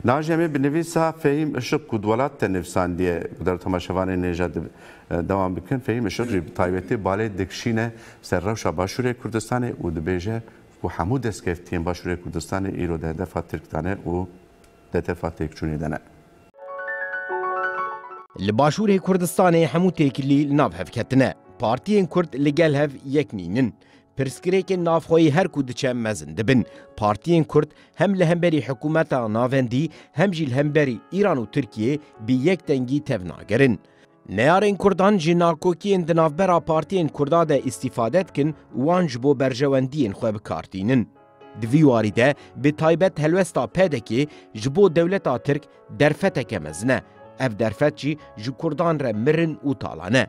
Naaşîna me bi nivîsa Fehîm Işık ku di welat de nivîsandiye ku der tomaşevanê nêja dewam bikin, Fehîm Işık jî bi taybetî balê dikişîne ser rewşa Başûrê Kurdistanê û dibêje ku hemû destkeftiyên Başûrê Kurdistanê îro di hedefa Tirk de ne û di hedefa têkçûnê de ne. Li Başûrê Kurdistanê hemû têkilî li nav hev ketine. Partiyên Kurd li gel hev yek nînin. Pirsgirêkên navxweyî her ku diçe mezin dibin. Partiyên Kurd hem li hemberî hikûmeta navendî hem jî li hemberî Îran û Tirkiyeyê bi yek dengî tev nagerin. Neyarên Kurdan ji nakokiyên di navbera partiyên Kurda de îstîfade dikin û wan ji bo berjewendiyên xwe bi kar tînin. Di vî warî de bi taybet helwesta PDK'ê ji bo dewleta Tirk derfeteke mezin e. Ev derfet jî ji Kurdan re mirin û talan e.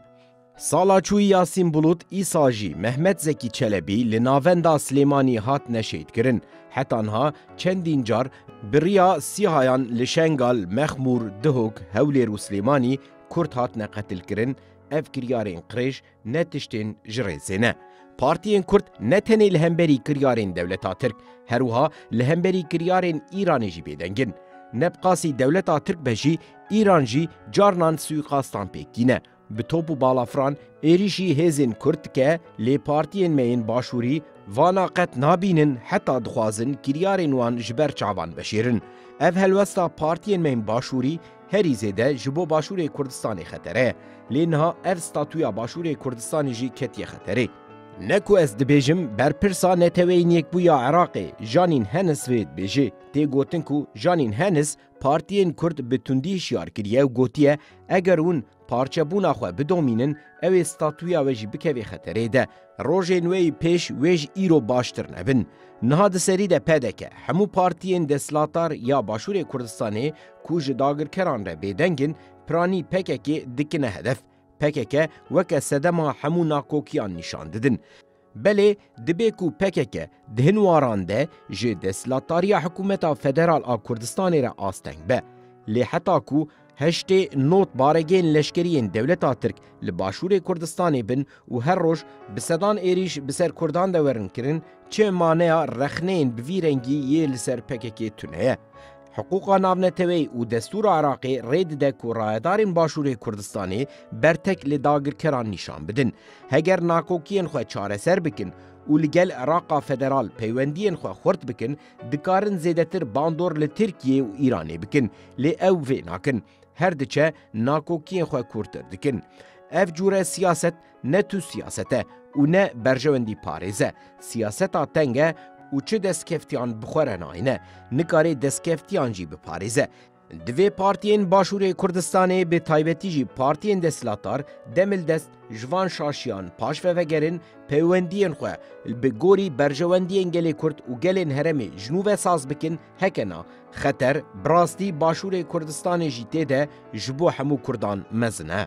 Sala çûyî Yasîn Bulut îsal jî Mehmet Zekî Çelebî li navenda Silêmanî hat neşêdkirin. Heta niha çendîn car bi riya Sîhayan li Şengal, Mexmûr, Dihok, Hewlêr û Silêmanî Kurd hatine qetilkirin, ev kiryarên qirêj ne tiştên ji rêzê ne. Partiyên Kurd ne tenê li hemberî kiryarên dewleta Tirk, her wiha li hemberî kiryarên Îranê jî bêdeng in. Ne bi qasî dewleta Tirk be jî, Îran jî carnan suîqastan pêk tîne. Bi top û balafran êrîşî hêzên Kurd dike lê partiyên me yên Başûrî vana qet nabînin heta dixwazin kiryarên wan ji ber çavan veşêrin. Ev helwesta partiyên me yên Başûrî herî zêde ji bo Başûrê Kurdistanê xetere ye. Lê niha ev statuya Başûrê Kurdistanê jî ketiye xeterê. Ne ku ez dibêjim berpirsa Neteweyên Yekbûya Iraqê Janîn Hennis vê dibêje. Tê gotin ku Janîn Hennis Partiyên Kurd bi tundî hişyar kiriye û gotiye, eger hûn parçebûna xwe bidomînin, ew ê statuya we jî bikevê xeterê de. Rojên wê yî pêş wê ji îro baştir nebin. Niha di serî de pdk, hemû partiyên desthilatar ya Başûrê Kurdistanê ku ji dagirkeran re bêdeng in, piranî pkk dikine hedef. Pkk weke sedema hemû nakokiyan nîşan didin. Belê dibê ku pkk di hin waran de ji desthilatdariya hikûmeta federal a Kurdistanê re asteng be. Lê heta ku heştê not baregên leşkerî yên dewleta Tirk li başûrê Kurdistanê bin û her roj bi sedan êrîş bi ser Kurdan de werin kirin, çi maneya rexneyên bi vî rengî yê li ser pkk tune ye? Hiqûqa navneteweyî û destûra Iraqê rê dide ku rayedarên Başûrê Kurdistanê bertek li dagirkeran nîşan bidin. Heger nakokiyên xwe çareser bikin û li gel Iraqa Federal peywendiyên xwe xurt bikin, dikarin zêdetir bandor li Tirkiyê û Îranê bikin, lê ew vê nakin. Her diçe nakokiyên xwe kûrtir dikin. Ev cûre siyaset, Ne tu siyaset e û ne berjewendî parêz e. Siyaseta teng e û çi destkeftiyan bi xwe re nayîne, nikare destkeftiyan jî biparêze. Divê partiyên Başûrê Kurdistanê bi taybetî jî partiyên desthilatdar demildest ji van şaşiyan paş vevegerin, peywendiyên xwe bi gorî berjewendiyên gelê Kurd û gelên herêmê ji nû ve saz bikin, heke na, xeter bi rastî Başûrê Kurdistanê jî tê de ji bo hemû Kurdan mezin e.